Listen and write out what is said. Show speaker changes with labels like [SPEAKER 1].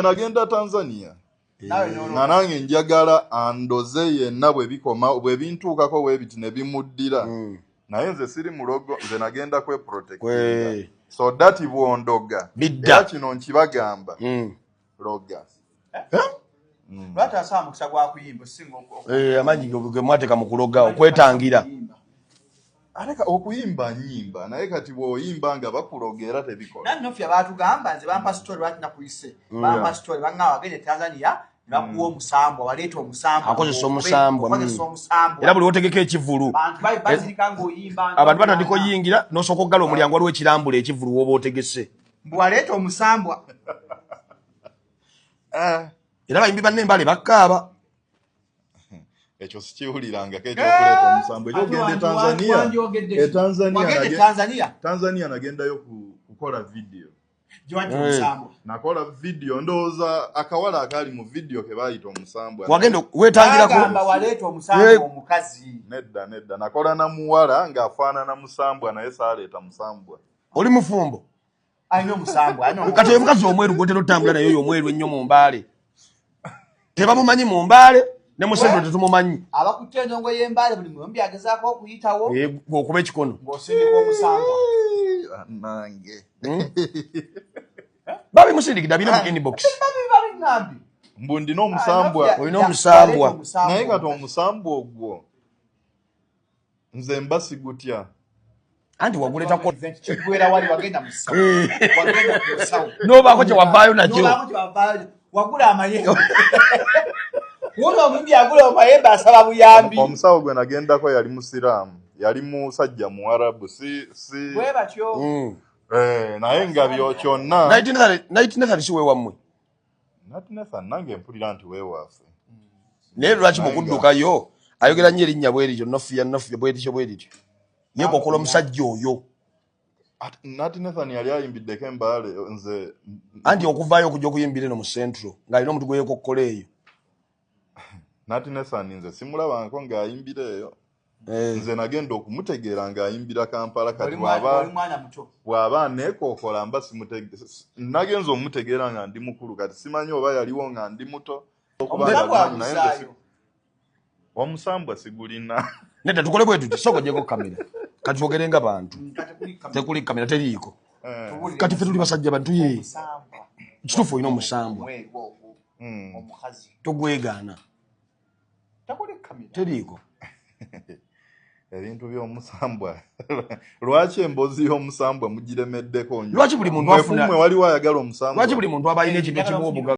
[SPEAKER 1] nagenda tanzania nga nange njagala andoze yenna bwebikoma bwebintuukako webiti nebimuddira hmm. naye nze siri mulogo nze nagenda kweprotect so dati bwondoga era kino nkibagamba hmm. loga eh?
[SPEAKER 2] hmm. eh, amaanyi
[SPEAKER 3] gemwateka mukuloga okwetangira
[SPEAKER 1] ate okuyimba nyimba naye kati bwoyimba nga bakuloga era tebikolannofya batugamba
[SPEAKER 2] nze bampa story lwaki nakuyise mm. bampa story banga wagende tanzania nakuwa mm. omusambwa waleeta omusambakozesa omusambwa
[SPEAKER 3] mm. era
[SPEAKER 2] buli wotegeka ekivulu abantu batandika oyingira
[SPEAKER 3] nosooka okugala omulyango waliwo ekirambula ekivulu woba otegese mbwaleeta
[SPEAKER 2] omusambwa
[SPEAKER 3] eh. era bayimbi banne embale bakkaaba
[SPEAKER 1] ekyo sikiwulirangako ekyokuleeta eh, omusango ekyogenda etanzania etanzania tanzania nagendayo kukola vidiyo nakola vidiyo ndowooza akawala akaali mu vidiyo kebayita
[SPEAKER 3] omusambwanedda
[SPEAKER 2] nedda nakola
[SPEAKER 1] namuwala ng'afaanana musambwa naye saaleeta musambwa oli mufumbo
[SPEAKER 3] alina
[SPEAKER 2] omusambu kati oyo mukazi omweru
[SPEAKER 3] gwotera otambula naye oyo omweru ennyo mu mbaale tebamumanyi mu mbaale ne musendo tetumumanyi abakutte endongo
[SPEAKER 2] y'embaale buli muyombi agezaako okuyitawo eh, okuba ekikono
[SPEAKER 3] ng'osindika
[SPEAKER 2] omusambu
[SPEAKER 1] nange hmm?
[SPEAKER 3] babi musindikidde abina mu inbox
[SPEAKER 2] mbu ndina
[SPEAKER 1] omusambwa olina omusambwa
[SPEAKER 3] naye kati
[SPEAKER 1] omusambwa ogwo nze mba sigutya anti
[SPEAKER 3] waguleta ko kigwera wali wagenda musa eh. wagenda
[SPEAKER 2] musa no bako je wabayo na jo no
[SPEAKER 3] bako je wabayo
[SPEAKER 2] wagula amaye wono mumbi agula amaye ba sababu yambi omusa ogwe nagenda
[SPEAKER 1] ko yali musiram yali musajja mu arabu si si we batyo mm.
[SPEAKER 2] eh
[SPEAKER 1] naye ngabyo kyonna 1930 1930
[SPEAKER 3] siwe wamwe
[SPEAKER 1] naye
[SPEAKER 3] lwaki mukuddukayo ayogera nyo erinnya bwerityo nofiya nofiya bwerityo bwerityo naye kokola omusajja oyo
[SPEAKER 1] nati nathan yali ayimbiddeko embaale nze anti okuvaayo
[SPEAKER 3] okuja okuyimbira eno mu centro ng'alina omuntu gweyekokkola eyo
[SPEAKER 1] nati nesani nze simulabangako ng'ayimbira eyo eh. nze nagenda okumutegeera ng'ayimbira kampala kati bw'aba aneekookola mba nagenza omutegeera nga ndi mukulu kati simanyi oba yaliwo nga ndi muto omusambwa sigulina neda tukole bwe
[SPEAKER 3] tuti soko gyeko kamera kati twogere nga bantu tekuli kamera teriiko eh. kati fe tuli basajja bantu ye kituufu olina omusambwa hmm. omukazi tugwegaana teriiko ebintu
[SPEAKER 1] byomusambwa lwaki embozi yomusambwa
[SPEAKER 3] mugiremeddeko
[SPEAKER 1] nyo
[SPEAKER 3] lwaki buli muntu afuna waliwo
[SPEAKER 1] ayagala
[SPEAKER 3] omusambwa lwaki buli muntu abalina
[SPEAKER 1] ekintu
[SPEAKER 3] ekimuwa obugaga